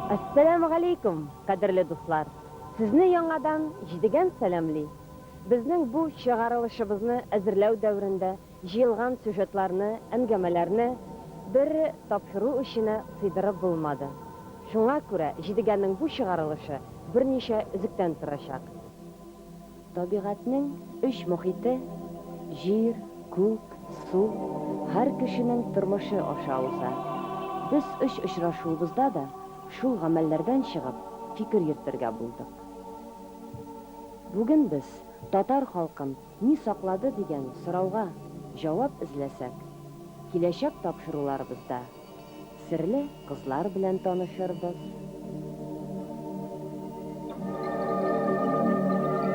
Әссәләмегаләйкүм, кадерле дуслар! Сезне яңадан Җидегән сәламли! Безнең бу чыгарылышыбызны әзерләү дәверендә җыелган сюжетларны, әңгәмәләрне бер тапшыру эченә сыйдырып булмады. Шуңа күрә Җидегәннең бу чыгарылышы берничә өзектән торачак. Табигатьнең өч мохите, җир, күк, су, һәр кешенең тормышы аша уза. Без өч очрашуыбызда да шул гамәлләрдән чыгып, фикер йөртергә булдык. Бүген без татар халкын ни саклады дигән сорауга җавап эзләсәк, киләчәк тапшыруларыбызда, Серле кызлар белән танышырбыз.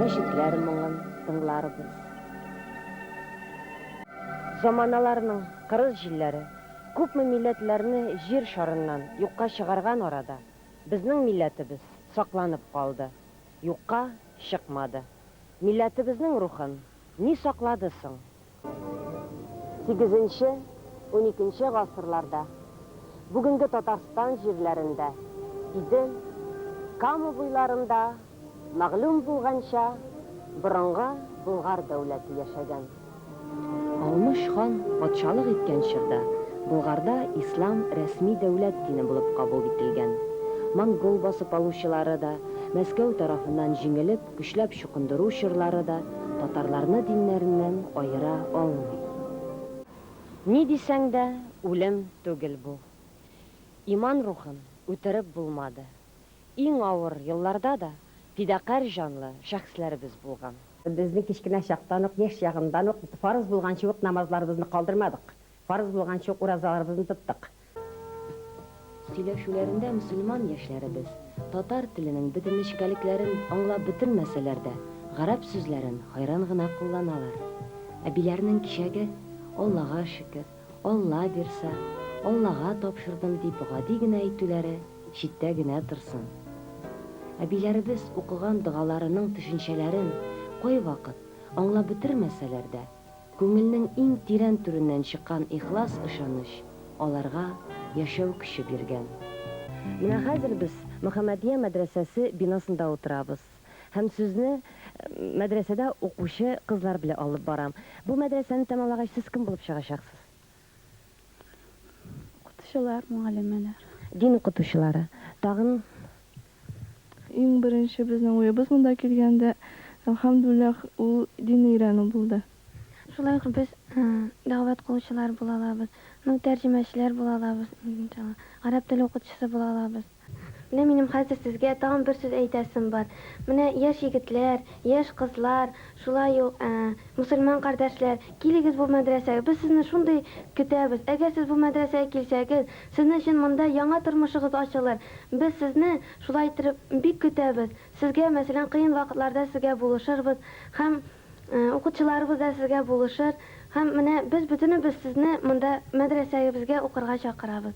Мәчетләр моңын тыңларбыз. Заманаларның кырыс җилләре күпме милләтләрне җир шарыннан юкка чыгарган арада, безнең милләтебез сакланып калды, юкка чыкмады. Милләтебезнең рухын ни саклады соң? Сигезенче, уникенче гасырларда бүгенге Татарстан җирләрендә, Идел, Кама буйларында, мәгълүм булганча, борынгы Болгар дәүләте яшәгән. Алмыш хан патшалык иткән чорда Болгарда ислам рәсми дәүләт дине булып кабул ителгән. Монгол басып алучылары да Мәскәү тарафыннан җиңелеп, Көчләп чукындыру чорлары да татарларны диннәреннән аера алмый. Ни дисәң дә, үлем түгел бу. Иман рухын үтереп булмады. Иң авыр елларда да фидакарь җанлы шәхесләребез булган. Безнең кечкенә чактан ук, яшь чагыннан ук фарыз булганчы ук намазларыбызны калдырмадык, фарыз булганчы ук уразаларыбызны тоттык. Сөйләшүләрендә мөселман яшьләребез, татар теленең бөтен нечкәлекләрен аңлап бетермәсәләр дә, гарәп сүзләрен хайран гына кулланалар. Әбиләрнең кичәге, Аллага шөкер, Алла бирса, Аллага тапшырдым дип гади генә әйтүләре читтә генә торсын. Әбиләребез укыган догаларының төшенчәләрен, кайвакыт, аңлап бетермәсәләр дә, Күңелнең иң тирән түреннән чыккан ихлас ышаныч аларга яшәү көче биргән. Менә хәзер без Мөхәммәдия мәдрәсәсе бинасында утырабыз һәм сүзне мәдрәсәдә укучы кызлар белә алып барам. Бу мәдрәсәне тәмамлагач, сез кем булып чыгачаксыз? Укытучылар, мөгаллимәләр. Дин укытучылары. Тагын. Иң беренче безнең уебыз монда килгәндә, әлхәмдүлләһ, ул динне өйрәнү булды. Шулай ук без дәгъват кылучылар була алабыз, ну, тәрҗемәчеләр була алабыз, иншалла, гарәп теле укытучысы була алабыз. Менә минем хәзер сезгә тагын бер сүз әйтәсем бар. Менә яшь егетләр, яшь кызлар, шулай ук мөселман кардәшләр, килегез бу мәдрәсәгә, без сезне шундый көтәбез. Әгәр сез бу мәдрәсәгә килсәгез, сезнең өчен монда яңа тормышыгыз ачылыр. Без сезне шулай иттереп бик көтәбез. Сезгә, мәсәлән, кыен вакытларда сезгә булышырбыз һәм укытучыларыбыз да сезгә булышыр. Һәм менә без бөтенебез сезне монда мәдрәсәгебезгә укырга чакырабыз.